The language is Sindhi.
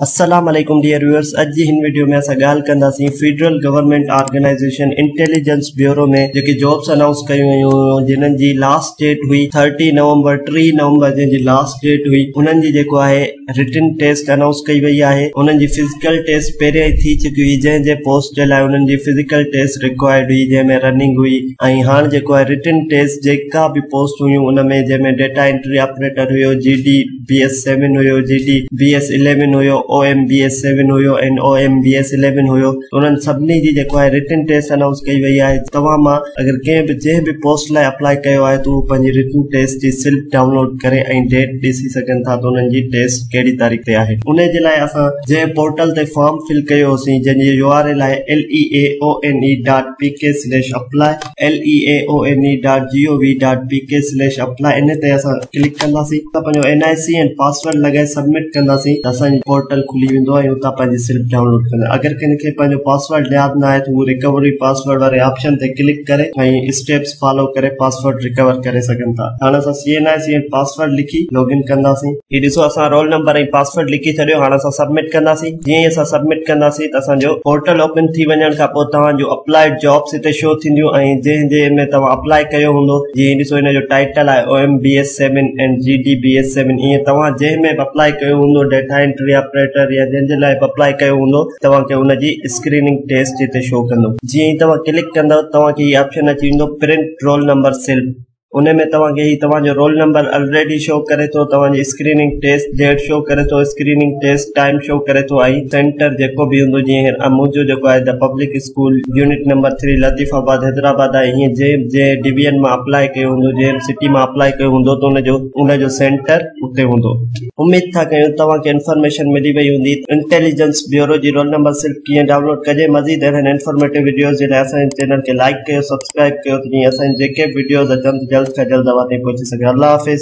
السلام عليڪم ڊيئر ويورس اڄ جي هن وڊيو ۾ اسان ڳالهه ڪنداسين federal government organisation intelligence bureau ۾ جيڪي جابس انائونس ڪيون ويون هيون جنن جي لاسٽ ڊيٽ هئي ٿرٽي نومبر ٽي نومبر جنهن جي لاسٽ ڊيٽ هئي انهن جي جيڪو آهي رٽن ٽيسٽ انائونس ڪئي وئي آهي انهن جي فزيڪل ٽيسٽ پهريان ئي ٿي چڪي هئي جنهن جي پوسٽ جي لاء انهن جي فزيڪل ٽيسٽ رڪوائرڊ هئي جنهن ۾ رننگ هئي ۽ هاڻ جيڪو آهي رٽن ٽيسٽ جيڪا به پوسٽ هيون ان ۾ جنهن ۾ ڊيٽا انٽري آپريٽر هيو G D B S seven هيو G D B S eleven هيو O M B S seven هيو ۽ O M B S eleven هيو انهن سڀني جي جيڪو آهي رٽن ٽيسٽ انائونس ڪئي وئي آهي توهان مان اگر ڪنهن به جنهن به پوسٽ لاء اپلائي ڪيو آهي ته اهو پنهنجي رٽن ٽيسٽ جي سلپ ڊائونلوڊ ڪري ۽ ڊيٽ ڏسي سگهن ٿا ته انهن جي ٽيسٽ ڪهڙي تاريخ تي آهي ان جي لاء اسان جنهن پورٽل تي فارم فل ڪيو هوسين جنهن جي يو آر ايل آهي LEAONE.PK/apply LEAONE.GOV.PKSLASHAPPLY ان تي اسان ڪلڪ ڪنداسين ته پنهنجو اين آء سي ۽ پاسورڊ لڳائي سبمٽ ڪنداسين ته اسان جي پورٽل کلي ويندو ۽ اتان پنهنجي سلپ ڊائونلوڊ ڪنداسين اگر ڪنهن کي پنهنجو پاسورڊ ياد نه آهي ته هو ريڪوري پاسورڊ واري آپشن تي ڪلڪ ڪري ۽ اسٽيپس فالو ڪري پاسورڊ ريڪور ڪري سگهن ٿا هاڻ اسان C N I C ۽ password لکي لاگ ان ڪنداسين هي ڏسو اسان رول نمبر ۽ پاسورڊ لکي ڇڏيو هاڻ اسان سبمٽ ڪنداسين جيئن ئي اسان سبمٽ ڪنداسين ته اسان جو پورٽل اوپن ٿي وڃڻ کان پوء توهان جون اپلائيڊ جابس هتي شو ٿينديون ۽ جنهن جي ۾ توهان اپلائي ڪيو هوندو جيئن هي ڏسو هن جو ٽائيٽل آهي O M B S seven ۽ G D B S seven ائين توهان جنهن ۾ به اپلائي ڪيو هوندو ڊيٽا انٽري آپريٽر يا جنهن جي لاء به اپلائي ڪيو هوندو توهان کي ان جي اسڪريننگ ٽيسٽ هتي شو ڪندو جيئن ئي توهان ڪلڪ ڪندو توهان کي هي آپشن اچي ويندو پرنٽ رول نمبر سلپ ان ۾ توهان کي هي توهان جو رول نمبر الريڊي شو ڪري ٿو توهان جي اسڪريننگ ٽيسٽ ڊيٽ شو ڪري ٿو اسڪريننگ ٽيسٽ ٽائيم شو ڪري ٿو ۽ سينٽر جيڪو به هوندو جيئن هينئر منهنجو جيڪو آهي ته public school unit number three Latifabad Hyderabad آهي هيئن جنهن جنهن ڊويزن مان اپلاء ڪيو هوندو جنهن سٽي مان اپلاء ڪيو هوندو ته ان جو ان جو سينٽر اتي هوندو اميد ٿا ڪيون توهان کي انفارميشن ملي وئي هوندي انٽيليجنس بيورو جي رول نمبر سلپ ڪيئن ڊائونلوڊ ڪجي مزيد اهڙن انفارميٽو وڊيوز جي لاء اسان جي چينل کي لائڪ ڪيو سبسڪرائب ڪيو ته جيئن اسان جي جيڪي به وڊيوز اچن جلد کان جلد اوهان تائين پهچي سگهن الله حافظ